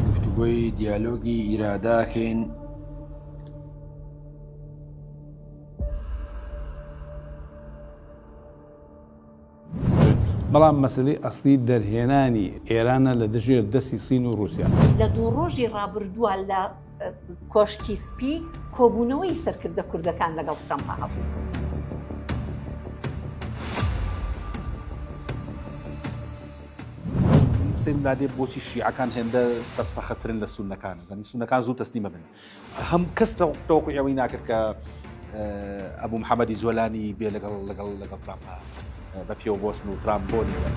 گفتوگۆی دیالۆگی ئیراداکەین بەڵام مەسەلەی ئەسڵی دەرهێنانی ئێرانە لە دژێر دەستی سین و ڕووسیا. لە دوو ڕۆژی ڕابردووە لە کۆشکی سپی کۆبوونەوەی سەرکردە کوردەکان لەگەڵ ترەمپا هەبوو. سەیرم لادێ بۆچی شیعەکان هێندە سەرسەختترن لە سوننەکان زانی سوننەکان زوو تەسلیمەبن هەموو کەس تەوەقوعی ئەوەی ناکرد کە ئەبوو محەمەدی جۆلانی بێ لەگەڵ لەگەڵ لەگەڵ ترامپا بە پێوە بۆسن و ترامپ بۆ نێوە.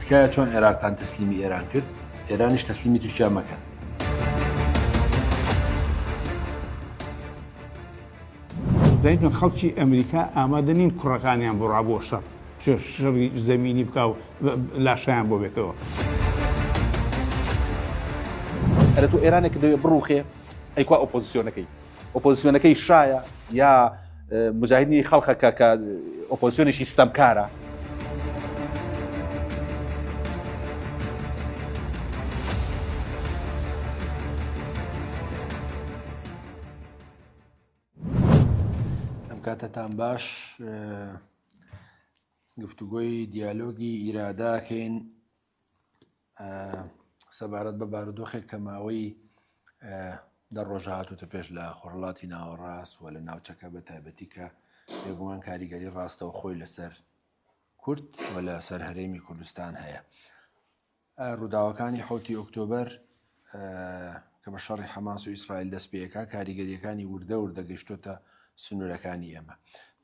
تکایە چۆن عێراقتان تەسلیمی ئێران کرد ئێرانیش تەسلیمی تورکیا مەکەن دەزانیتان خەڵکی ئەمریکا ئامادە نین کوڕەکانیان بۆ ڕابۆ شەڕ شەڕی زەمینی بکا و لاشیان بۆ بێتەوە. ئەرە تۆ ئێرانێک دەوێ بڕوخێ ئەیکوا ئۆپۆزیسیۆنەکەی ئۆپۆزیسیۆنەکەی شایە یا مجاهدنی خەڵخەکە کە ئۆپۆزیۆنێکی ستەمکارە ئەم کاتەتان باش گفتوگۆی دیالۆگی ئیراداکەین سەبارەت بە بارودۆخێک کە ماوەی دە ڕۆژە هاتوتە پێش لە خۆرڵاتی ناوەڕاست و لە ناوچەکە بە تایبەتی کە بێگومان کاریگەری ڕاستەوە خۆی لەسەر کورد و لە سەر هەرێمی کوردستان هەیە. ڕووداوەکانی حەوتی ئۆکتۆبەر کە بە شەڕی حەماس و ئیسرائیل دەست پێکا کاریگەریەکانی وردە وردە گەشتۆتە سنوورەکانی ئێمە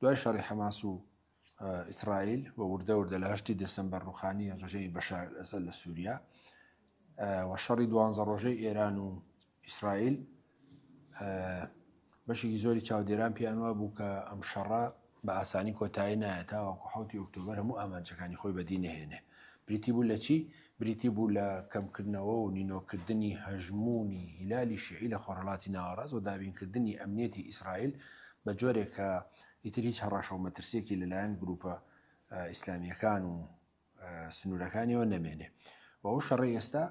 دوای شەڕی حەماس و ئیسرائیل و وردە وردە لە هەشتی دەسمبەر ڕوخانی ڕژەی بەشار ئەسەد لە سووریا و شەڕی دوانزە ڕۆژەی ئێران و ئیسرائیل بەشێکی زۆری چاودێران پێیان وابوو کە ئەم شەڕە بە ئاسانی کۆتایی نایە تاوەکو حوتی ئۆکتۆبەر هەموو ئامانجەکانی خۆی بەدی نەهێنێ بریتی بوو لە چی بریتی بوو لە کەمکردنەوە و نینۆکردنی هەژمونی هیلالی شیعی لە خۆرەڵاتی ناوەڕاست و دابینکردنی ئەمنیەتی ئیسرائیل بە جۆرێک کە ئیتر هیچ هەڕەشە و مەترسیەکی لەلایەن گروپە ئیسلامیەکان و سنوورەکانیەوە نەمێنێ و ئەو شەڕی ئێستا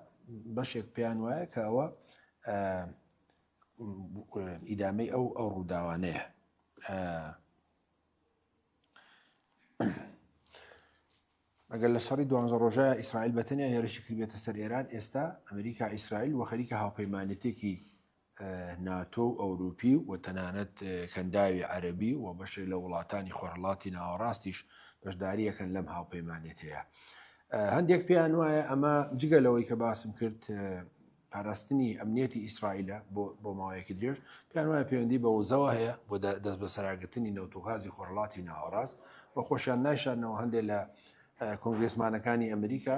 بەشێک پێیان وایە کە ئەوە ئیدامەی ئەو ئەو ڕووداوانەیە ئەگەر لە شەڕی دوانزە ڕۆژە ئیسرائیل بەتەنیا هێرشی کردێتە سەر ئێران ئێستا ئەمریکا ئیسرائیل و خەریکە هاوپەیمانێتێکی ناتۆ و ئەوروپی و تەنانەت کەنداوی عەرەبی و بەشێک لە وڵاتانی خۆرهەڵاتی ناوەڕاستیش بەشدارییەکەن لەم هاوپەیمانێتییە. هەندێک پێیان وایە ئەمە جگە لەوەی کە باسم کرد پاراستنی ئەمنیەتی ئیسرائیلە بۆ ماوەیەکی درێژ، پێیان وایە پەیوەندی بە وزەوە هەیە بۆ دەستبەسەراگرتنی نەوت و غازی خۆرهەڵاتی ناوەڕاست و خۆشیان نایشارنەوە هەندێک لە کۆنگرێسمانەکانی ئەمریکا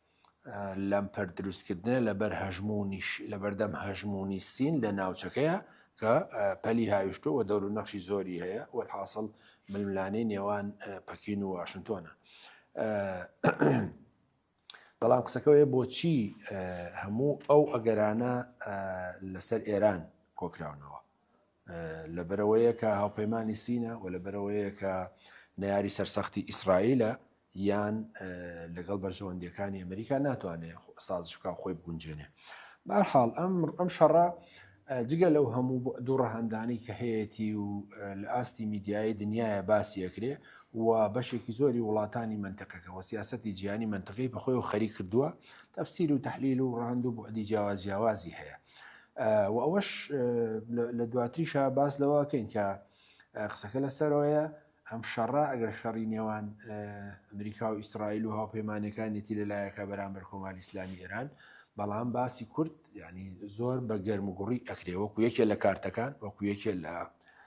لەمپەر دروستکردنە لەبەر هەژمونیش لەبەردەم هەژمونی سین لە ناوچەکەیە کە پەلی هاویشتۆ و دەور و نەخشی زۆری هەیە و حاصل ململانەی نێوان پەکین و واشنتۆنە بەڵام قسەکەوەیە بۆچی هەموو ئەو ئەگەرانە لەسەر ئێران کۆکراونەوە لە بەرەوەیە کە هاوپەیمانانی سینە و لە بەرەوەیە کە نەیاری سەرسەختی ئیسرائیلە یان لەگەڵ بەرژەوەندیەکانی ئەمریکا ناتوانێت سازشکا خۆی بگونجێنێ بارحاڵ ئەم ئەم شەڕە جگە لەو هەموو دوو ڕەهندانی کە هەیەی و لە ئاستی میدیایی دنیاە باسی ئەکرێ و بەشێکی زۆری وڵاتانی منتەکەکە و سیاستی جیانی منتەکەی بەخۆی و خەری کردووە تەفسیر و تحلیل و ڕاند و بۆ ئەدی جیاواز جیاوازی هەیە و ئەوەش لە دواتریشا باس لەوەکەین کە قسەکە لەسەرەوەیە ئەم شەڕە ئەگەر شەڕی نێوان ئەمریکا و ئیسرائیل و هاوپەیمانەکانێتی لەلایەکە بەرامبەر کۆماری ئسلامی ئێران بەڵام باسی کورد ینی زۆر بە گەرم و گوڕی ئەکرێ وەکو یەکێ لە کارتەکان وەکو یەکێ لە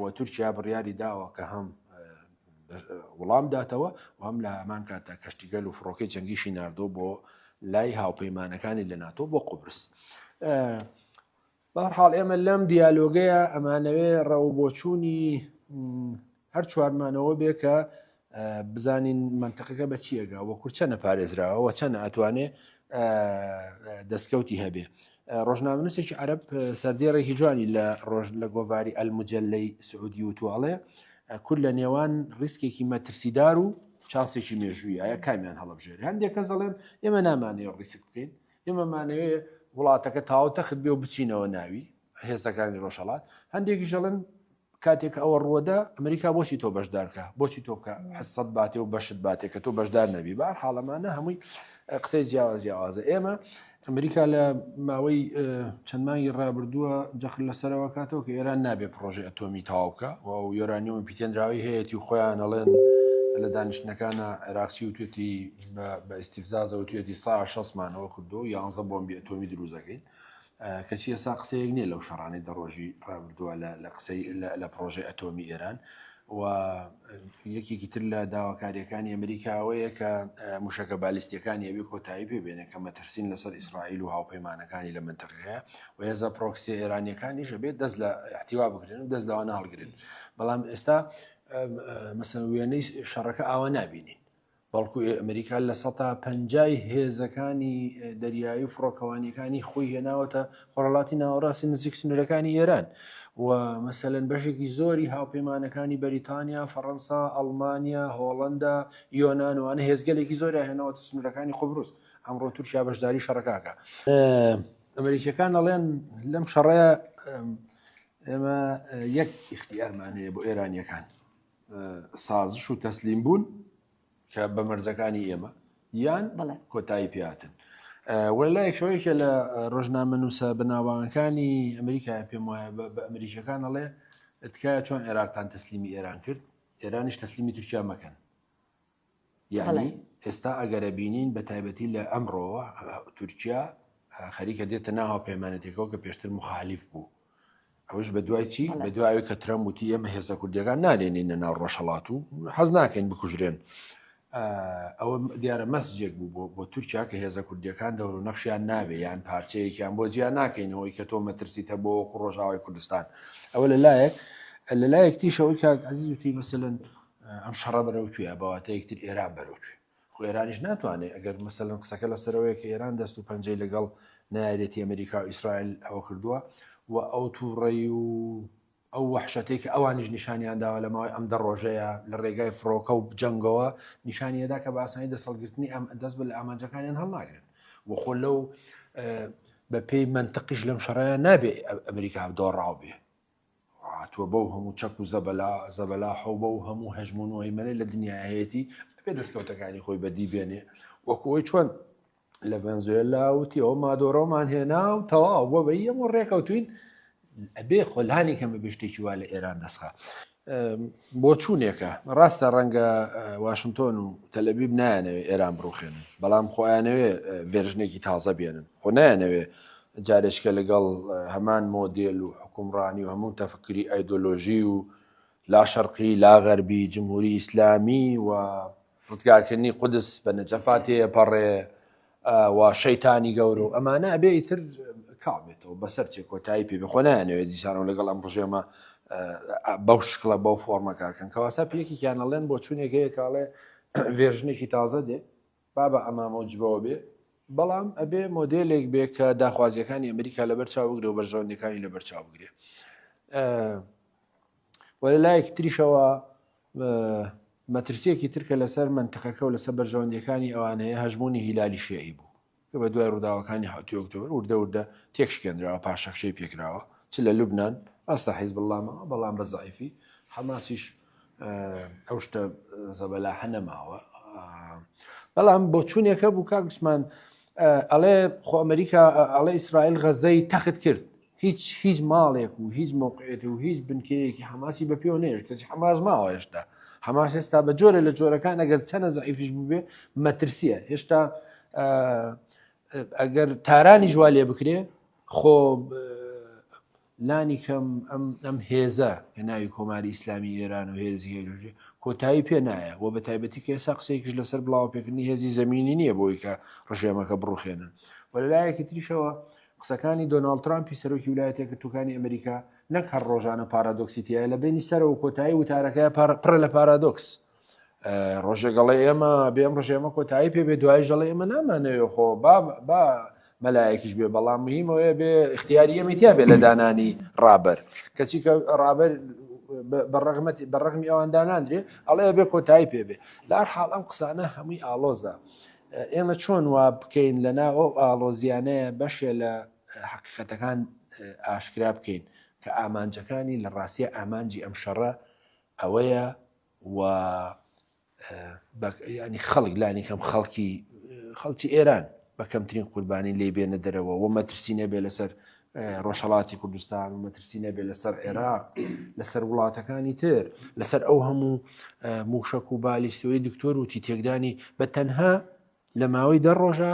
و تورکیا بڕیاری داوە کە هەم وڵام داتەوە و هەم لە هەمان کاتدا کەشتیگەل و فڕۆکەی جەنگیشی ناردۆ بۆ لای هاوپەیمانەکانی لە ناتۆ بۆ قوبرس. بەهەرحاڵ ئێمە لەم دیالۆگەیە ئەمانەوێ ڕەوبۆچوونی هەر چوارمانەوە بێ کە بزانین منتەقەکە بە چیەگە وە کورچە نەپارێزراوە چەنە ئەتوانێ دەستکەوتی هەبێ ڕۆژنامەنووسێکی عرب سەردێڕێکی جوانی لە ڕۆژ لە گۆڤاری ئەلمجلەی سعودی و توواڵێ کورد لە نێوان ڕیسکێکی مەترسیدار و چاسێکی مێژووی ئایا کامیان هەڵبژێر هەندێک کە دەڵێن ئێمە نامانەیە ڕیسک بکەین ئێمەمانەیە وڵاتەکە تاوتەخت بێ و بچینەوە ناوی هێزەکانی ڕۆژهەڵات هەندێکیش دەڵێن کاتێک کە ئەوە ڕووەدا ئەمریکا بۆچی تۆ بەشدارکە بۆچی تۆ بکە حسەت باتێ و بەشت باتێ کە تۆ بەشدار نەبی بار حاڵەمانە هەمووی قسەی جیاواز جیاوازە ئێمە ئەمریکا لە ماوەی چەند مانگی ڕابردووە جەخر لەسەرەوە کاتەوە کە ئێران نابێت پرۆژی ئەتۆمی تاوکە و یۆرانیۆم پیتێنراوی هەیەی و خۆیان ئەڵێن لە دانیشتەکانە عێراقچی و توێتی بە ئیسیفزازەوە توێتی سا شەسمانەوە کردو یانزە بۆمبی ئەتۆمی دروزەکەین کەچی ئێستا قسەیەک نیە لەو شەڕانەی دە ڕۆژی ڕابردووە لە قسەی لە پڕۆژەی ئەتۆمی ئێران و یەکێکی تر لە داواکاریەکانی ئەمریکا ئەوەیە کە موشەکە بالیستیەکانی ئەوی کۆتایی پێ بێنێ کە مەترسین لەسەر ئیسرائیل و هاوپەیمانەکانی لە منتەقەیە و هێزە پرۆکسیە ئێرانیەکانیش ئەبێت دەست لە احتیوا بگرن و دەست لەوانە هەڵگرن بەڵام ئێستا مەسەن وێنەی شەڕەکە ئاوا نابینین بەڵکو ئەمریکا لە سەتا پەنجای هێزەکانی دەریایی و فڕۆکەوانیەکانی خۆی هێناوەتە خۆرەڵاتی ناوەڕاستی نزیک سنوورەکانی ئێران و مەسەەن بەشێکی زۆری هاوپەیمانەکانی بەریتانیا فەڕەنسا ئەڵمانیا هۆڵندا یۆنانوانە هێزگەلێکی زۆر هێناوەتە سنوورەکانی قبرس ئەمڕۆ تورکیا بەشداری شەڕکاکە ئەمریکیەکان ئەڵێن لەم شەڕەیە ئێمە یەک اختیارمانەیە بۆ ئێرانیەکان سازش و تەسلیم بوون کە بە مەرجەکانی ئێمە یان کۆتایی پێاتن وە لایەک شوەیەکە لە ڕۆژنامە نووسە بەناوانەکانی ئەمریکا پێم وایە بە ئەمریکەکان ئەڵێ تکایە چۆن عێراقتان تەسلیمی ئێران کرد ئێرانیش تەسلیمی تورکیا مەکەن یەعنی ئێستا ئەگەرە بینین بە تایبەتی لە ئەمڕۆوە تورکیا خەریکە دێتە ناو هاوپەیمانەتێکەوە کە پێشتر مخالیف بوو ئەوش بە دوای چی بە دوای کە ترەم وتی ئێمە هێزە کوردیەکان نالێنینە ناو ڕۆژهڵات و حەز ناکەین بکوژرێن ئەوە دیارە مەسجێک بوو بۆ بۆ تورکیا کە هێزە کوردیەکان دەور و نەخشیان نابێ یان پارچەیەکیان بۆ جیا ناکەینەوەی کە تۆ مەترسیتە بۆ وەکو ڕۆژاوای کوردستان ئەوە لە لایەک لە لایەک تیشەوەی کاک عزیزوتی مەسەن ئەم شەڕە بەرەو کوێە بەواتە یەکتر ئێران بەرەو کوێ خۆ ئێرانیش ناتوانێت ئەگەر مەسەلم قسەکە لەسەرەوەی کە ئێران دەست و پەنجەی لەگەڵ نایەتی ئەمریکا و ئیسرائیل ئەوە کردووە و ئەو تووڕی و ئەو وحشەتەی کە ئەوانیش نیشانیان داوە لە ماوەی ئەم دە ڕۆژەیە لە ڕێگای فڕۆکە و جەنگەوە نیشانیەدا کە باسانی دەسەڵگرتنی ئەم دەست بە لە ئامانجەکانیان هەڵناگرن و خۆ لەو بە پێی منتەقیش لەم شەڕەیە نابێ ئەمریکا دۆڕاو بێ هاتووە بەو هەموو چەک و زەبەلا زەبەلاحە و بەو هەموو هەژموون و هەیمەنەی لە دنیا هەیەتی ئەبێ دەستکەوتەکانی خۆی بەدی بێنێ وەکو ئەوی چۆن لە ڤەنزوێلا وتی ئەو مادۆرەوەمان هێنا و تەواو بۆ بەی ئەمە ڕێکەوتوین ئەبێ خۆلانی کەمە بشتێکی وا لە ئێران دەستخە بۆ چوونێکە ڕاستە ڕەنگە واشنگتۆن و تەلەبیب نایانەوێ ئێران بڕوخێنن بەڵام خۆیانەوێ ڤێژنێکی تازە بێنن خۆ نایانەوێ جارێچکە لەگەڵ هەمان مۆدێل و حوکمڕانی و هەموو تەفکری ئایدۆلۆژی و لا شەرقی لا غەربی جمهوری ئیسلامی و ڕزگارکردنی قودس بە نەجەفا تێیەپەڕێ و شەیتانی گەورە و ئەمانە ئەبێ ئیتر کاڵ بێتەوە بەسەر چێ کۆتایی پێ بێ خۆ نایانەوێت دیسانەوە لەگەڵ ئەم ڕژێمە بەو شکڵە بەو فۆرمە کارکەن کەواسا پێکێکیان ئەڵێن بۆ چوونێک هەیە کاڵێ ڤێرژنێکی تازە دێ با بە عەمامە و جبەوە بێ، بەڵام ئەبێ مۆدێلێک بێ کە داخوازییەکانی ئەمریکا لەبەر چاو بگرێ و بەرژەوەندییەکانی لەبەر چاو بگرێ. وە لە لایەکی تریشەوە مەترسیەکی ترکە لەسەر منتقەکە و لەسەر بەرژەوەندیەکانی ئەوان هەیە هەژمونی هیلالی شیعی بوو کە بە دوای ڕووداوەکانی حوتی ئۆکتۆبر وردە وردە تێکشکێنراوە پاشەکشەی پێکراوە چ لە لوبنان ڕاستە حیزب اللامە بەڵام بە زعیفی حەماسیش ئەو شتە زەبەلاحە نەماوە بەڵام بۆچوونێکە بوو کاکسمان ئەڵێ خۆ ئەمریکا ئەڵێ ئیسرائیل غەزەی تەخت کرد هیچ هیچ ماڵێک و هیچ موقعێت و هیچ بنکەیەکی حماسی بە پێوە نێش کەسی حماس ماوە هێشتا حماس هێستا بە جۆرە لە جۆرەکان ئەگەر چەنە زعیفش بووبێ مەترسیە هێشتا ئەگەر تارانی جووا لێ بکرێ خۆ لانی کەم ئەم هێزە کە ناوی کۆماری ئیسلامی ئێران و هێزی هێژێ کۆتایی پێ نایە و بە تایبەتی کە ئێسا قسەیەکیش لەسەر بڵاوپێکردنی هێزی زمینی نییە بۆی کە ڕژێمەکە بڕوخێنن و لەلایەکی تریشەوە قسەکانی دۆناڵد ترامپی سەرۆکی ولایەتە گرتوەکانی ئەمریکا نەک هەر ڕۆژانە پارادۆکسیتیە لە بینی سەرەوە کۆتایی وتارەکە پڕە لە پارادۆکس ڕۆژێگەڵێ ئێمە بێم ڕژێ ئەمە کۆتایی پێ بێ دوای ژەڵێ ئمە نامانەوێ خۆ با با مەلایەکیش بێ بەڵام مهمەوەێ بێ اختیاری ئەمیتیا بێ لە دانانی ڕابەر کەچی کە ڕابەر بەڕغمەتی بەڕغمی ئەوان داناندرێ ئەڵێ بێ کۆتایی پێ بێ لار حاڵ ئەم قسانە هەمووی ئالۆزە ئێمە چۆن وا بکەین لە ناو ئەو ئالۆزیانەیە بەشێ لە حقیقەتەکان ئاشکرا بکەین کە ئامانجەکانی لە ڕاستە ئامانجی ئەم شەڕە ئەوەیە و ینی خەڵک لانی کەم خەڵکی خەڵکی ئێران بە کەمترین قوربانی لی بێنە دەرەوە و مەترسی نەبێ لەسەر ڕۆژهڵاتی کوردستان و مەترسی نەبێ لەسەر عێراق لەسەر وڵاتەکانی تر لەسەر ئەو هەموو موشک و بالیستۆی دکتۆر وتی تێکدانی بە تەنها لە ماوەی دە ڕۆژە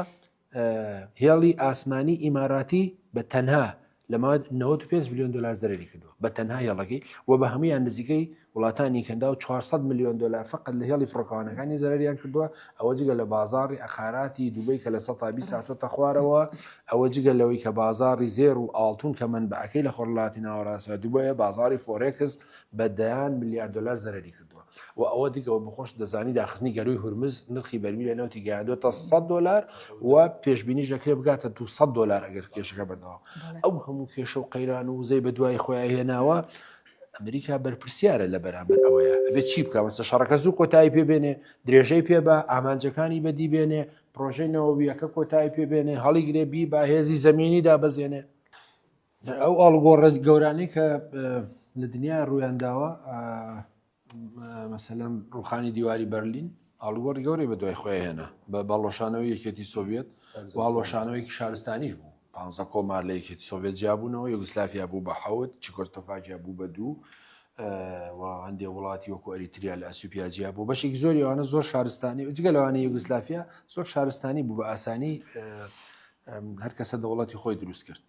هێڵی ئاسمانی ئیماراتی بە تەنها لە ماد 95 میلیۆن دلار زەرری کردووە بە تەنها هێڵەکەی و بە هەمویان نزیکەی وڵاتانی کەندا و 400 میلیۆن دلار فقط لە هێڵی فڕۆکەوانەکانی زەرریان کردووە ئەوە جگە لە بازاری ئەقاراتی دوبی کە لە سە تابی ساچۆتە خوارەوە ئەوە جگە لەوەی کە بازاری زێر و ئاڵتون کە من بەعکەی لە خۆرلاتی ناوەڕاستە دوبەیە بازاری فۆرێکس بە دەیان میلیارد دلار زەرری کرد و ئەوە دیکە بە خۆش دەزانی داخستنی گەروی هورمز نرخی بەرمیلە نەوتی گەیاندوێتە 100 دلار و پێشببینی ژەکرێ بگاتە 200 دلار ئەگەر کێشەکە بەردەوام ئەو هەموو کێشە و قەیران و وزەی بە دوای خۆیان هێناوە ئەمریکا بەرپرسیارە لە بەرامبەر ئەوەیە ئەبێت چی بکە مەسە شەڕەکە زوو کۆتایی پێبێنێ درێژەی پێ بە ئامانجەکانی بەدی بێنێ پرۆژەی نەوەویەکە کۆتایی پێبێنێ هەڵیگرێ بی با هێزی زمینی دابەزێنێ ئەو ئاڵگۆڕە گەورانەی کە لە دنیا ڕوویانداوە مەسەلەن ڕوخانی دیواری بەرلین ئاڵگۆڕی گەورەی بە دوای خۆی هێنا بە باڵۆشانەوە یەکێتی سۆڤێت باڵۆشانەوەیکی شارستانیش بوو پ کۆمار لە یەکێتی سۆڤێت جیابوونەوە یوگسلافیا بوو بە حوت چکۆستۆفاجیا بوو بە دوو هەندێ وڵاتی وەکو ئەریتریا لە ئەسوپیا جیا بوو بەشێک زۆری ئەوانە زۆر شارستانی جگە لەوانە یوگسلافیا زۆر شارستانی بوو بە ئاسانی هەر کەسە دەوڵەتی خۆی دروست کرد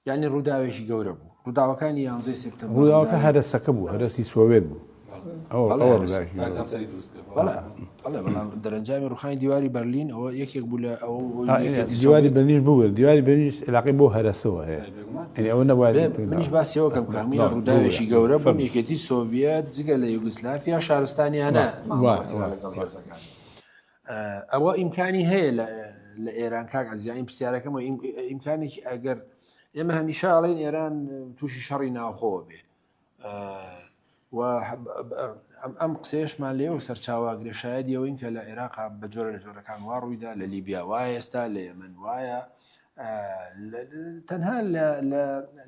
یعنی ڕووداوێکی گەورە بوو ڕووداوەکانی یانزەی سپتە ڕووداوەکە هەرسەکە بوو هەرسی سۆوێت بوو دەرەنجامی ڕوخانی دیواری بەرلین ئەوە یەکێک بوو لە ئەو دیواری بەنیش بوو دیواری بەنیش علاقی بۆ هەرسەوە هەیە ئەوە نەبات منیش باسیەوە کەم کامی ڕووداوێکی گەورە بەم یەکێتی سۆڤەت جگە لە یوگسلافیا شارستانیانە ئەوە ئیمکانی هەیە لە ئێران کاک ئەزیین پرسیارەکەمە ئیمکانێکی ئەگەر ئێمە هەمیشە ئەڵین ئێران تووشی شەڕی ناوخۆ بێ ئەم قسێشمان لێەوە سەرچاوە گرێشایەت یەوەین کە لە عێراق بە جۆرە لە جۆرەکان وا ڕوویدا لە لیبیا وایە ئێستا لە یەمن وایە تەنها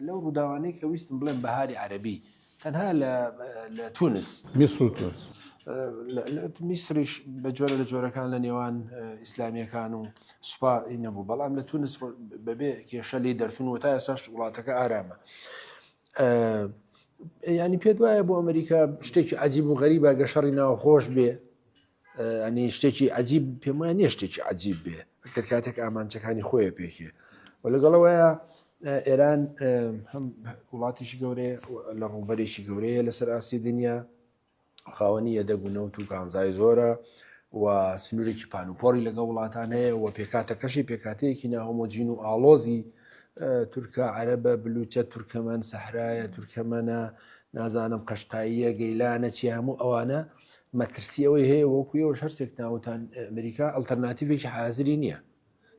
لەو ڕووداوانەی کە ویستم بڵێن بەهاری عەربی تەنها لە لە تونس میسر و تونس میسریش بە جۆرە لە جۆرەکان لە نێوان ئیسلامیەکان و سوپا نەبوو بەڵام لە تونس بەبێ کێشە لی دەرچون و تا ئێساش وڵاتەکە ئارامە. ینی پێت وایە بۆ ئەمریکا شتێکی عجیب و غەریبە گەشەڕی ناوخۆش بێ ئەنی شتێکی عجیب پێم وایە نیە شتێکی عجیب بێ کە کاتێک ئامانچەکانی خۆیە پێکێ و لەگەڵەوەیە ئێران هەم وڵاتیشی گەورەیە لە ڕووبەرێکی گەورەیە لەسەر ئاسی دنیا خاوەنی یەدەگ و نەوت و کانزای زۆرە و سنوورێکی پانوپۆری لەگە وڵاتان هەیە و پێکاتەکەشی پێکاتەیەکی ناهۆمۆجین و ئاڵۆزی تورکە عەرەبە بلوچە تورکەمەن سەحرایە تورکەمەە نازانم قەشقاییە گەیلانە چی هەموو ئەوانە مەترسی ئەوەی هەیە وەکو ئێوەش هەرسێک ناوتان ئەمریکا ئەلتەرناتیڤێکی حازری نییە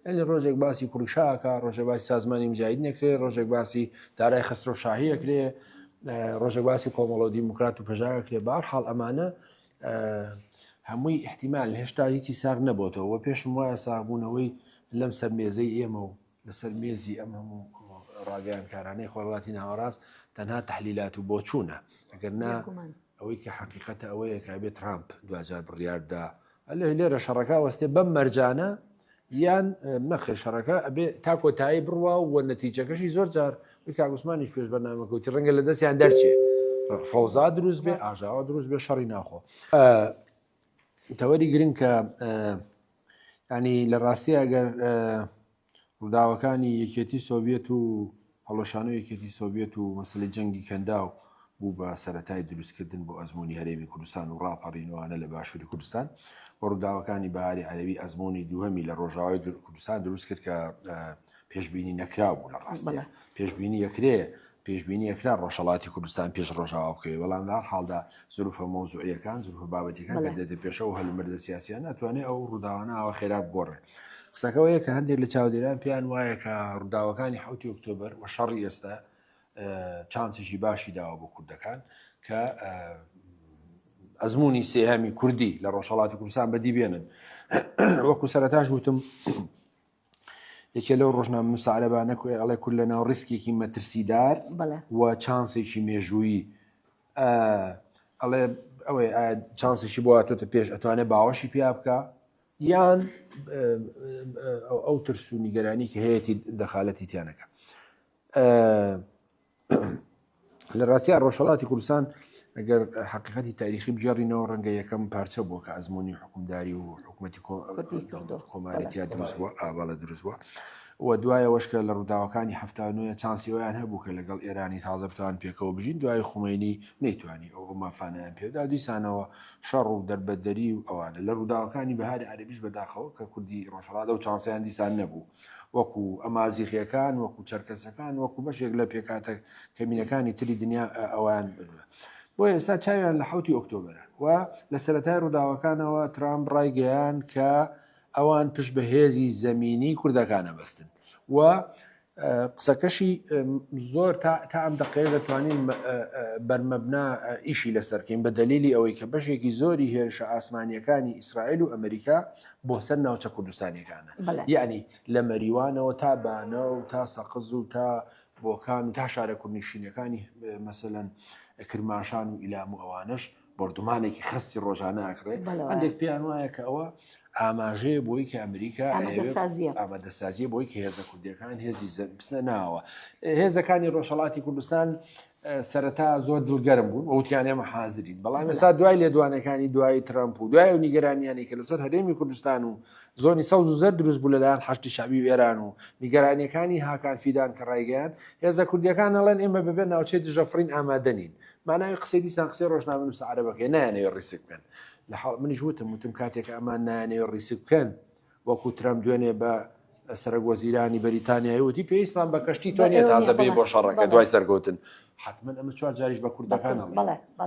ئەلی ڕۆژێک باسی کوڕی شاکە ڕۆژە باسی سازمانی مجاید نەکرێ ڕۆژێک باسی دارای خسترۆ شاهیە کرێ ڕۆژە باسی کۆمەڵۆ دیموکرات و پژاگە کرێ بار حاڵ ئەمانە هەمووی احتیمال هێشتا هیچی ساغ نەبووتەوە پێشم وایە ساغبوونەوەی لەم سەر مێزەی ئێمە و لەسەر مێزی ئەم هەموو ڕاگەیانکارانەی خۆرواتی ناوەڕاست تەنها تحلیلات و بۆچوونە ئەگەر نا ئەوەی کە حقیقەتە ئەوەیە کە بێت ترامپ دوجار بڕیاردا ئەلێ لێرە شەڕەکە وەستێ بەم مەرجانە یان نەخێ شەڕەکە ئەبێ تا کۆتایی بڕوا و نەتیجەکەشی زۆر جار کاگوسمانیش پێش بەنامەکەوتی ڕەنگە لە دەستیان دەرچێ فەوزا دروست بێ ئاژاوە دروست بێ شەڕی ناخۆ تەوەری گرنگ کە ینی لە ڕاستی ئەگەر ڕووداوەکانی یەکێتی سۆڤێت و هەڵۆشان و یەکێتی سۆڤێت و مەسلی جەنگی کەنداو بوو بە سەتای دروستکردن بۆ ئەزمموی هەرێمی کوردستان و ڕاپەڕینوانە لە باشووری کوردستان بە ڕووداوەکانی باری عەربی ئەزمموی دووهەمی لە ڕۆژاوای کوردستان دروست کرد کە پێشبینی نەکراو بوو لە ڕاستە پێشبینی یەکرێ پێشبینی یەکرا ڕۆژەڵاتی کوردستان پێش ڕۆژاوا بکەی بەڵام لە حاڵدا زروفە مۆزوعەکان زروفە بابەتەکان دێتە پێشەوە هەلومەردە سیاسیان ناتوانێت ئەو ڕووداوانەوە خێرا بگۆڕێ قسەکەەوەیە کە هەندێک لە چاودێران پێیان وایە کە ڕووداوەکانی حوتی ئۆکتۆبر و شەڕی ئێستا چانسیشی باشی داوە بۆ کوردەکان کە ئەزمموی سێهامی کوردی لە ڕۆژهڵاتی کوردستان بەدی بێنن وەکو سەرتاش وتم یەکێ لەو ڕۆژنامەنووسە عەرەبانە کۆی ئەڵێ کورد لە ناو ڕیسکێکی مەترسیدار بەڵێ و چانسێکی مێژوویی ئە، ئەڵێ ئەوەی ئایا چانسێکی بۆ هاتۆتە پێش ئەتوانێت باوەشی پیا بکا یان ئە، ئە، ئەو ترس و نیگەرانی کە هەیەتی دەخالەتی تیا نەکا. لە ڕاستیا ڕۆژهڵاتی کوردستان ئەگەر حقیقەتی تاریخی بگەڕینەوە ڕەنگە یەکەم پارچە بووە کە ئەزمموی حکومداری و حکوومەتی کۆمارەتیا دروست بووە ئاواڵە دروست بووە و دوایەوەشکە لە ڕووداوەکانی هەفتانوە چانسیوەیان هەبوو کە لەگەڵ ئێرانی تازە بتوان پێکەوە بژین دوای خومینی نەیتوانی ئەو مافانیان پێدا دیسانەوە شەڕ و دەربەدەری و ئەوانە لە ڕووداوەکانی بەهاری عربیش بەداخەوە کە کوردی ڕۆژهڵات و چانسیان دیسان نەبوو وەکو ئەمازیغیەکان، وەکو چەرکەسەکان، وەکو بەشێک لە پێکهاتە کەمینەکانی تری دنیا ئەوان بنوە. بۆ ئێستا چاویان لە حوتی ئۆکتۆبەرە و لە سەرەتای ڕووداوەکانەوە ترامپ ڕایگەیان کە ئەوان پشت بە هێزی زەمینی کوردەکانە بەستن و قسەکەشی زۆر تا ئەم دەقەیە دەتوانین بەرمەبنا ئیشی لەسەرکەین بە دەلیلی ئەوەی کە بەشێکی زۆری هێرشە ئاسمانیەکانی ئیسرائیل و ئەمریکا بۆ سەر ناوچە کوردستانیەکانە یانی لە مەریوانەوە تا بانە و تا سەقز و تا بۆکان و تا شارە کوردنیشینەکانی مەسەەن کرماشان و ئیلام و ئەوانش بردومانێکی خستی ڕۆژانە ئەکرێت هەندێک پێیان وایە کە ئەوە ئاماژەیە بۆی کە ئەمریکا ئامادەسازیە بۆی کە هێزە کوردەکان هێزی زەبسە ناوە هێزەکانی ڕۆژهڵاتی کوردستان سەرەتا زۆر دڵگەرم بوون وتیان ئێمە حازرین بەڵام ئێستا دوای لێدوانەکانی دوای ترامپ و دوای و نیگەرانیانی کە لەسەر هەرێمی کوردستان و زۆنی سەوز و زەر دروست بوو لەلایەن حشتی شعبی و ئێران و نیگەرانیەکانی هاکان فیدان کە ڕایگەیان هێزە کوردیەکان ئەڵێن ئێمە بەبێ ناوچەی دژەفرین ئامادەنین ماناوی قسەی دیسان قسەی ڕۆژنامە نووسە عربەکەی نایانەوێ ڕیسک بکەن لە حاڵ منیش وتم وتم کاتێک ئەمان نایانەوێ ڕیسک بکەن وەکو ترەمپ دوێنێ بە سەرک وەزیرانی بەریتانیایی وتی پێویستمان بە کەشتی تۆنیە تازە بێ بۆ شەڕەکە دوای سەرکەوتن حتمما ئەمە چوار جاریش بە کوردەکان بڵێ